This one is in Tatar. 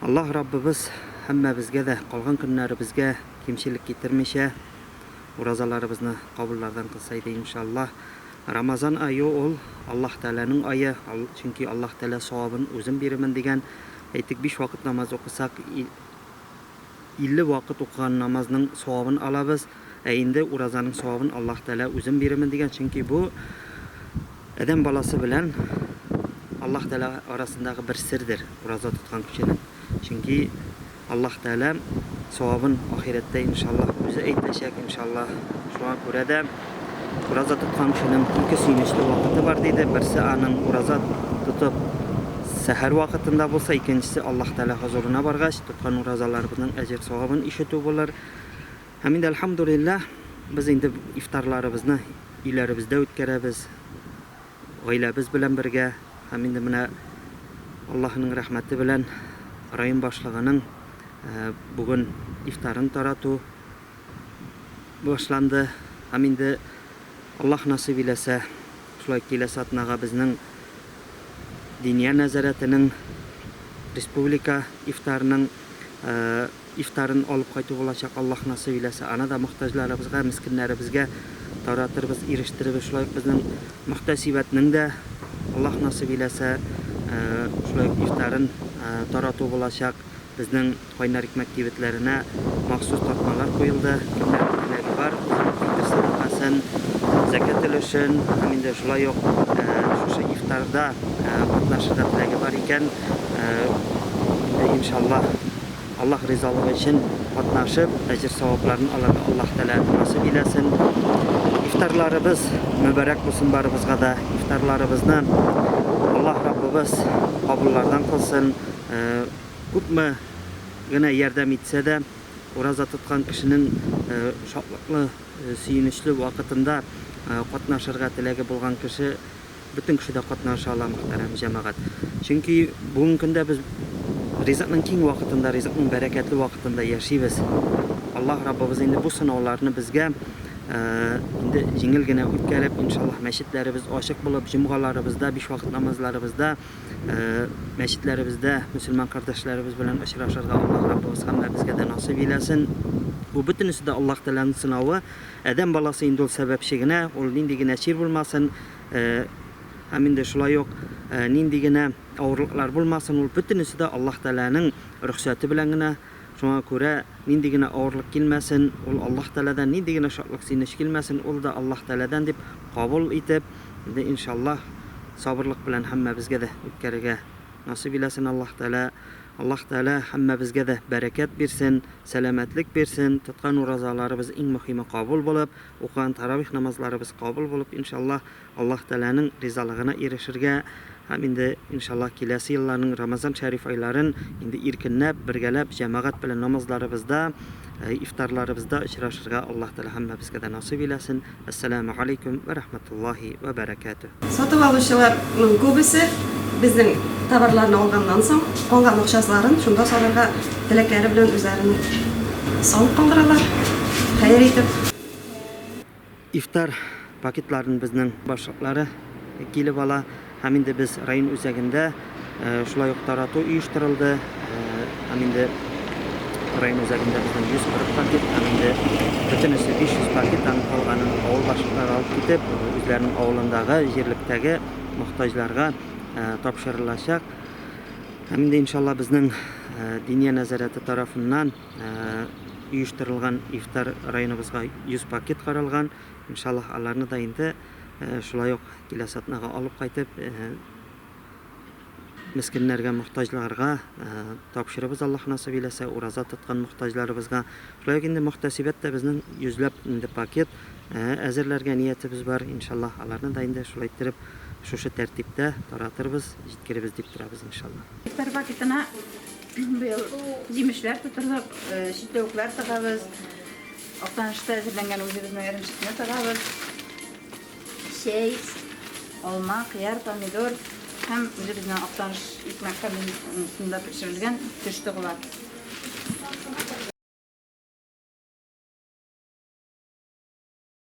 Аллаһ Раббыбыз һәммәбезгә дә калган көннәребезгә кимчелек китермичә, уразаларыбызны кабуллардан кылса иде, иншаллаһ. Рамазан ае ул, Аллаһ Тәгаләнең ае, чөнки Аллаһ Тәгалә савабын үзем бирермен дигән. Әйтик, биш вакыт намаз укысак, илле вакыт укыган намазның савабын алабыз. Ә инде уразаның савабын Аллаһ Тәгалә үзем бирермен дигән, чөнки бу адәм баласы белән Аллаһ Тәгалә арасындагы бер сердер, ураза тоткан кешенең. Чөнки Аллаһ Тәгалә савабын ахирәттә иншаллаһ үзе әйтәчәк, иншаллаһ. Шуңа күрә дә ураза тоткан кешенең ике сөенечле вакыты бар, диде. Берсе аның ураза тотып сәхәр вакытында булса, икенчесе Аллаһ Тәгалә хозурына баргач, тоткан уразаларыбызның әҗер-савабын ишетү булыр. Һәм инде, әлхәмдүлилләһ, без инде ифтарларыбызны өйләребездә үткәрәбез, гаиләбез белән бергә. Һәм инде менә Аллаһының рәхмәте белән район башлыгының бүген ифтарын тарату башланды. Һәм инде Аллаһ насыйп иләсә, шулай киләсе атнага безнең Диния нәзарәтенең республика ифтарының Ифтарын алып кайту булачак, Аллаһ насыйп иләсә, аны да мохтаҗларыбызга, мескеннәребезгә таратырбыз, ирештерербез. Шулай ук безнең мөхтәсибәтнең дә, Аллаһ насыйп иләсә, шулай ук ифтарын тарату булачак. Безнең Кайнар икмәк кибетләренә махсус тартмалар куелды. Кемнәрнең теләге бар, үзенең фитыр сәдакасын, зәкят өлешен һәм инде шулай ук шушы ифтарда катнашырга теләге бар икән, инде, иншаллаһ, Аллаһ ризалыгы өчен катнашып, әҗер-савапларын алырга Аллаһ Тәгалә насыйп иләсен. Ифтарларыбыз мөбарәк булсын барыбызга да. Ифтарларыбызны Аллаһ Раббыбыз кабуллардан кылсын. Күпме генә ярдәм итсә дә, ураза тоткан кешенең шатлыклы, сөенечле вакытында катнашырга теләге булган кеше, Бөтен кеше дә катнаша ала, мөхтәрәм җәмәгать. Чөнки бүгенге көндә без ризыкның киң вакытында, ризыкның бәрәкәтле вакытында яшибез. Аллаһ Раббыбыз инде бу сынауларны безгә инде җиңел генә үткәреп, иншаллаһ, мәчетләребез ачык булып, җомгаларыбызда, биш вакыт намазларыбызда, мәчетләребездә мөселман кардәшләребез белән очрашырга Аллаһ Раббыбыз һәммәбезгә дә насыйп иләсен. Бу бөтенесе дә Аллаһ Тәгаләнең сынавы. Адәм баласы инде ул сәбәпче генә, ул нинди генә чир булмасын, һәм инде шулай ук нинди генә авырлыклар булмасын, ул бөтенесе дә Аллаһ Тәгаләнең рөхсәте белән генә. Шуңа күрә нинди генә авырлык килмәсен, ул Аллаһ Тәгаләдән, нинди генә шатлык-сөенеч килмәсен, ул да Аллаһ Тәгаләдән дип кабул итеп, инде, иншаллаһ, сабырлык белән һәммәбезгә дә үткәрергә насыйп иләсен Аллаһ Тәгалә. Аллаһ Тәгалә һәммәбезгә дә бәрәкәт бирсен, сәламәтлек бирсен, тоткан уразаларыбыз иң мөхиме кабул булып, укыган таравих намазларыбыз кабул булып, иншаллаһ, Аллаһ Тәгаләнең ризалыгына ирешергә һәм инде, иншаллаһ, киләсе елларның Рамазан шәриф айларын инде иркенләп, бергәләп, җәмәгать белән намазларыбызда, ифтарларыбызда очрашырга Аллаһ Тәгалә һәммәбезгә дә насыйп иләсен. Ассаламу галейкум вә рахматуллахи вә бәрәкәтү. Сатып алучыларның күбесе безнең товарларны алганнан соң, калган акчасларын шунда салырга теләкләре белән үзләренең салып калдыралар, хәер итеп. Ифтар пакетларын безнең башлыклары килеп ала. Һәм инде без район үзәгендә шулай ук тарату оештырылды. Һәм инде район үзәгендә безнең 140 пакет, һәм инде бөтенесе 500 пакет, һәм калганын авыл башлыклары алып китеп, үзләренең авылындагы, җирлектәге мохтаҗларга тапшырылачак. Һәм инде иншалла безнең Диния нәзарәте тарафыннан оештырылган ифтар районыбызга 100 пакет каралган. Иншаллаһ аларны да инде шулай ук киләсе атнага алып кайтып, мескеннәргә, мохтаҗларга тапшырыбыз, Аллаһ насыйп иләсә, ураза тоткан мохтаҗларыбызга. Шулай ук инде мөхтәсибәт тә безнең йөзләп инде пакет әзерләргә ниятебез бар. Иншалла, аларны да инде шулай иттереп, шушы тәртиптә таратырбыз, җиткеребез дип торабыз, иншалла. Ифтар пакетына быел җимешләр тутырдык, чикләвекләр тыгабыз. Актанышта әзерләнгән үзебезнең эремчекне тыгабыз. Чәй, алма, кыяр, помидор һәм үзебезнең Актаныш икмәк комбинатында пешерелгән төш тыгыла.